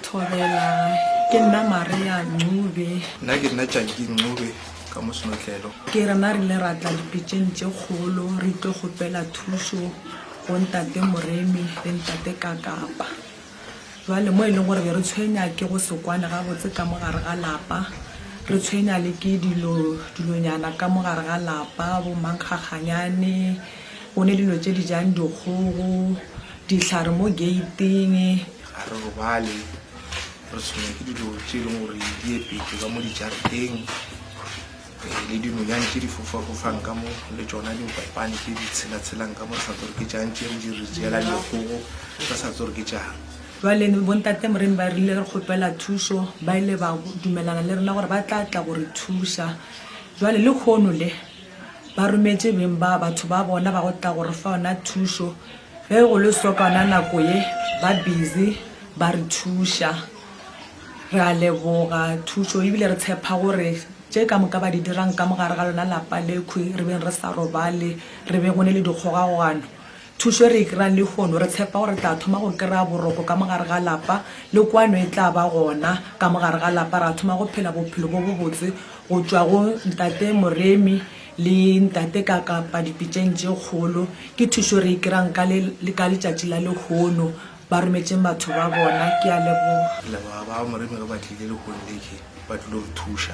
Thobela, Ke nna Maria Ncube. Nna ke nna Tšaki Ncube ka mo Senotlelo. Ke rena re ile ra tla dipitšeng tše kgolo re tlo kgopela thušo go Ntate Moremi le Ntate Kakapa. Jwale mo e leng gore be re tshwenya ke go se kwane gabotse ka mo gare ga lapa, re tshwenya le ke dilo dilonyana ka mo gare ga lapa, bo mankgakganyane, bone dilo tše di jang dikgogo, dihlare mo gate-ing. Ga re robale, re tshwenywa ke dilo tše e leng gore di epetšwe ka mo dijareteng le dinonyane tše di fofafofang ka mo le tšona dikopane tše di tshelatshelang ka mo re sa tse gore ke tšang tše re di re tseela dikgogo re sa tse gore ke tšang. Bjale bontate Moremi ba rile re kgopela thušo, ba ile ba dumelana le rena gore ba tla tla go re thuša. Bjale lehono le ba rometše beng ba batho ba bona ba go tla go re fa yona thušo. Ge go le sokana nako ye ba busy ba re thuša. Re a leboga thušo ebile re tshepa gore tše ka moka ba di dirang ka mogare ga lona lapa lekhwi re beng re sa robale, re be go ne le dikgogagogano. Thušo e re e kry-ang lehono re tshepa gore re tla thoma go kry-a boroko ka mogare ga lapa le kwano e tla ba gona ka mogare ga lapa. Ra thoma go phela bophelo bo bobotse go tšwa go Ntate Moremi. Le Ntate ka kapa dipitšeng tše kgolo, ke thušo re e kry-ang ka le ka letšatši la lehono. Ba rometšeng batho ba bona. Ke a leboga. Ke leboga ba Moremi ge ba tlile lehono le je, ba tlilo re thuša.